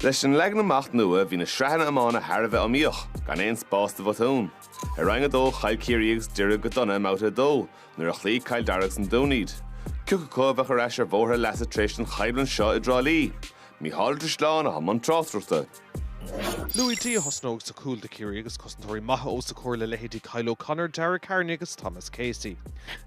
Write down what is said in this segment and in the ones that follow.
Leis an leagan amach nua bhí na sraitheanna iomána thar a bheith iomaíoch, gan aon spás do bhotún. I Roinn 2 chaill Ciarraí agus Doire go dona i mbabhta 2, nuair a chloígh Cill Dara agus An Dún iad. Cioca acu a bheadh ar ais ar bhóthar a leasa tar éis an choimhlint seo i dTrá Lí. Micheál Ó Drisleáin atá i mbun tráchtaireachta. Louis Dee a thosnóidh sa cúl do Chiarraí agus cosantóirí maithe os a chomhair le leithéidí Kyle O'Connor, Dara Kearney agus Thomas Casey.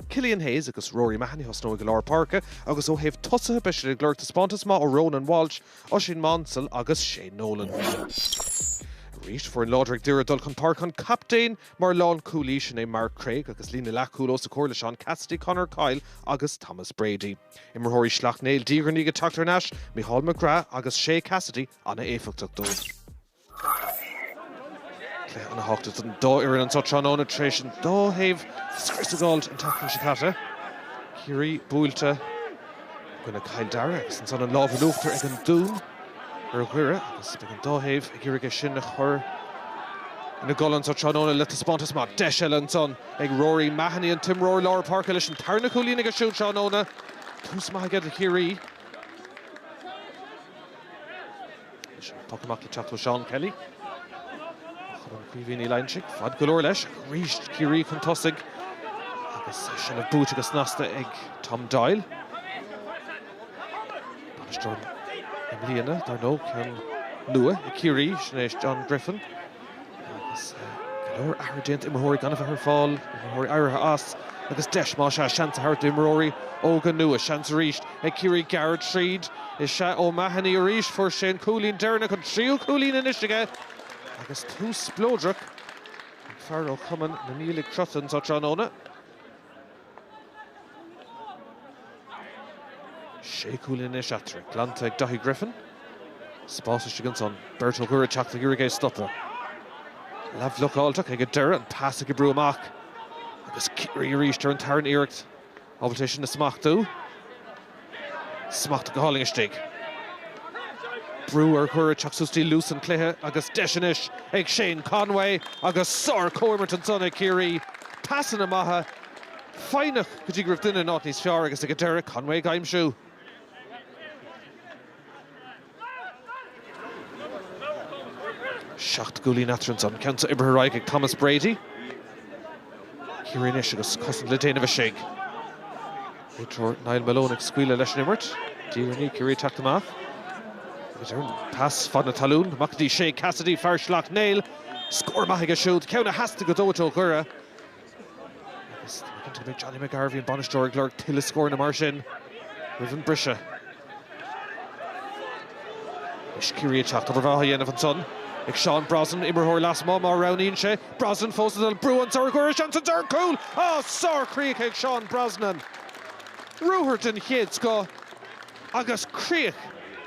Killian Hayes agus Rory Mahony a thosnóidh i lár páirce agus ó thaobh tosaithe beidh siad ag lorg taispeántas maith ó Ronan Walsh, Oisín Maunsell agus Shane Nolan. Arís foireann láidir ag Doire dul chun páirce an captaen mar lánchúlaí, sin é Mark Craig agus líne leathchúl os a chomhair le Seán Cassidy, Conor Coyle agus Thomas Brady. Imreoirí Shleacht Néill diaidh ar ndiaidh ag teacht thar n-ais, Micheál McGrath agus Shay Cassidy an-éifeachtach dóibh. Cluiche an-thábhachtach don dá fhoireann anseo tráthnóna tar éis an dá thaobh scrios a d'fháilt an tseachtain seo caite. Ciarraí buailte i gcoinne Cill Dara agus ansan an lámh in uachtar ag an Dún ar Dhoire agus beidh an dá thaobh ag iarraidh é sin a chur ina gcodladh anseo tráthnóna le taispeántas maith. Deis eile ansan. Ag Rory Mahony an t-imreoir lár páirce leis an tarna cúilín aige siúd tráthnóna. Tús maith aige do Chiarraí. Leis an poc amach le teacht ó Seán Kelly. Cumann Chaoimhín Uí Loingsigh. Faid go leor leis ach arís Ciarraí chun tosaigh agus seilbh buaite go snasta ag Tom Doyle. Bainisteoir i mbliana, dar ndóigh, ceann nua ag Ciarraí, sin é John Griffin. Agus go leor athruithe déanta, imreoirí gan a bheith ar fáil, imreoirí éirithe as agus deis más ea, seans a thabhairt d'imreoirí óga nua. Seans arís ag Ciarraí gearradh tríd. Is ea, O'Mahony arís. Fuair sé an cúilín deireanach, an tríú cúilín anois aige agus tús spleodrach ag fear ó chumann na Niallaigh Crotta anseo tráthnóna. Sé cúilín anois eatarthu. Glanta ag Daithí Griffin. Spás istigh ansan. Beirt ó Dhoire teacht ag iarraidh é a stopadh. Leath bhlocáilte ach ag an deireadh, an pas ag oibriú amach. Agus Ciarraí arís ar an tarna iarracht. Ábalta é sin a smachtú. Smacht go hálainn istigh. Brú ar Dhoire teacht suas dtí luas an chluiche agus deis anois ag Shane Conway agus sár comhimirt ansan ag Ciarraí. Pasanna maithe, foighneach go dtí go raibh duine in áit níos fearr agus ag an deireadh Conway ag aimsiú. Seacht gcúilín eatarthu ansan, an ceann seo oibrithe ar aghaidh ag Thomas Brady. Ciarraí anois agus cosaint le déanamh istigh. Réiteoir Niall Malone ag scaoileadh leis an imirt. Deireann Uí Ciarraí teacht amach agus ar an pas fad na talún, amach dtí Shay Cassidy, fear Shleacht Néill. Scór maith aige siúd, ceann a theastaigh go dóite ó Dhoire. Agus tá cinnte go mbeidh Johnny McGarvey an bainisteoir ag lorg tuilleadh scóranna mar sin roimh an briseadh. Is Ciarraí ag teacht, abhar á dhéanamh ansan. Ag Seán Brosnan imreoir lasmuigh má roghnaíonn sé. Brosnan fós an brú an sar gcuireann sé ansan, cúl, ó sárchríoch ag Seán Brosnan. Ruathar den chéad scoth agus críoch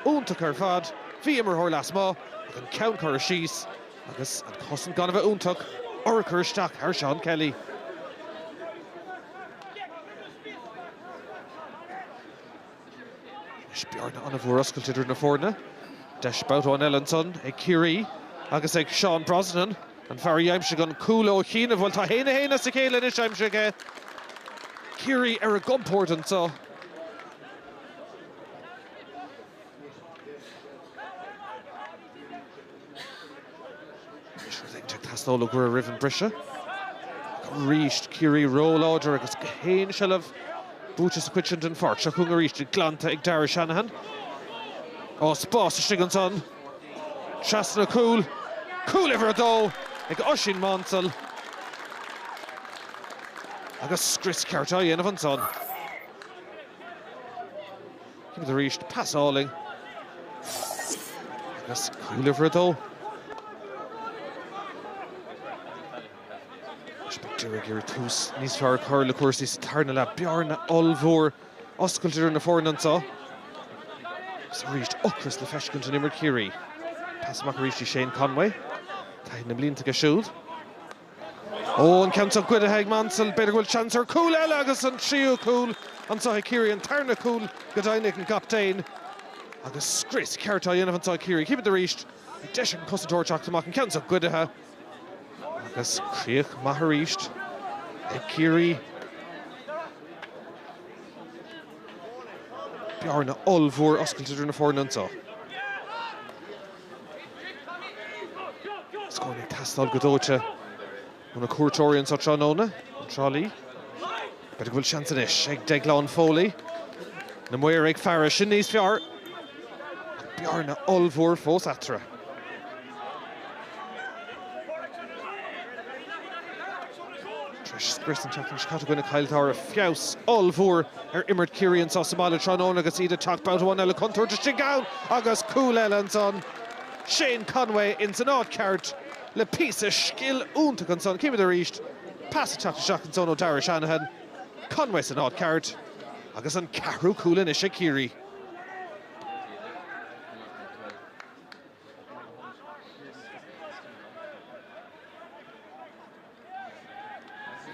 iontach ar fad. Bhí imreoir lasmuigh ach an ceann curtha. Agus an cosaint gan a bheith iontach, ag cur isteach ar Seán Kelly. Anois bearna ollmhór oscailte idir na foirne. Deis babhta amháin eile ansan ag Ciarraí agus ag Seán Brosnan. An fear a d'aimsigh an cúl ó chianaibh, bhuel tá haon a haon as a chéile anois aimsithe aige. Ciarraí ar a gcompórd anso. Ag teastáil ó Dhoire roimh an briseadh arís. Ciarraí ró-láidir agus gach aon seilbh buaite sa chuid sin den pháirc. Seo chugainn arís iad. Glanta ag Darragh Shanahan. Ó, spás istigh ansan. Trasna cúl. Cúl uimhir a dó ag Oisín Mánsell. Agus scrios ceart á dhéanamh ansan. Címid arís, pas álainn agus cúl uimhir a dó. Doire ag iarraidh tús níos fearr a chur le cúrsaí sa tarna leath. Bearna ollmhór oscailte idir na foirne anseo. Is arís ocras le feiscint in imirt Chiarraí. Pas amach arís go dtí Shane Conway. Taithí na mblianta aige siúd. Ó, an ceann seo goidthe ag Mansell, b'fhéidir go bhfuil seans ar chúl eile agus an tríú cúl anseo ag Ciarraí, an tarna cúl go deimhin ag an gcaptaen agus scrios ceart á dhéanamh anseo ag Ciarraí. Címid arís an deis ag an cosantóir teacht amach, an ceann seo goidthe agus críoch mhaith arís ag Ciarraí. Bearna ollmhór oscailte idir na foirne anseo. Scór ag teastáil go dóite ó na cuairteoirí anseo tráthnóna, i dTrá Lí. B'fhéidir go bhfuil seans anois ag Deaglán Foley. Na maoir ag faire, sin níos fearr ach bearna ollmhór fós eatarthu. Tréis an tseachtain seo caite i gcoinne Chill Dara. Feabhas ollmhór ar imirt Chiarraí anseo sa mbaile tráthnóna agus iad ag teacht babhta amháin eile contúirt istigh ann agus cúl eile ansan. Shane Conway ins an áit cheart le píosa scil iontach ansan. Chímid arís pas ag teacht isteach ansan ó Darragh Shanahan. Conway san áit cheart agus an ceathrú cúl anois ag Ciarraí.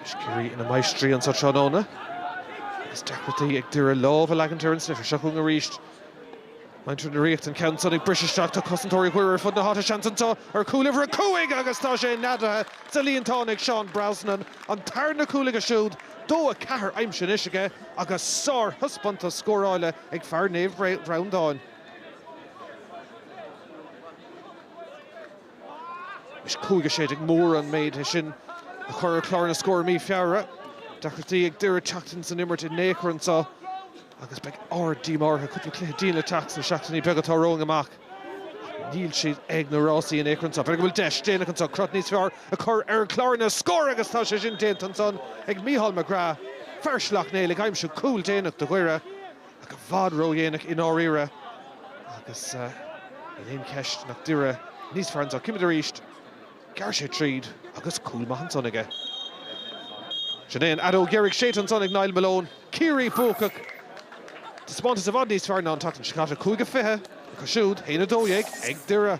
Is Ciarraí ina máistrí anso tráthnóna agus deacrachtaí ag Doire lámh a leagaint ar an sliotar seo chugainn arís. Muintir na Ríochta an ceann san ag briseadh isteach, tá cosantóirí Dhoire ar fud na háite, seans anso ar chúl uimhir a cúig agus tá sé neadaithe sa líontán ag Seán Brosnan, an tarna cúl aige siúd, dó a ceathair aimsithe anois aige agus sárthaispeántas scórála ag fear Naomh Bhreandáin. Is cúig a sé déag mór an méid é sin a chur ar chlár na scór i mí Feabhra. Deacrachtaí ag Doire teacht ins an imirt in ao'chor anso agus beidh ard díomá ortha cúpla cluiche dian le teacht sna seachtainí beaga atá romhainn amach. Níl siad ag na rásaí in ao'chor anso. B'fhéidir go bhfuil deis déanach anso crot níos fearr a chur ar chlár na scór agus tá sé sin déanta ansan ag Micheál McGrath. Fear Shleacht Néill ag aimsiú cúl déanach do Dhoire. ach i bhfad ródhéanach i ndáiríre agus níl aon cheist nach Doire níos fearr anso. Címid arís, ghearr sé tríd agus cúl maith ansan aige. Sin é an fheadóg dheiridh séidte ansan ag Niall Malone, Ciarraí. Buacach! Taispeántas i bhfad níos fearr ná an tseachtain seo caite, 5-20 acu siúd, 1-12 ag Doire.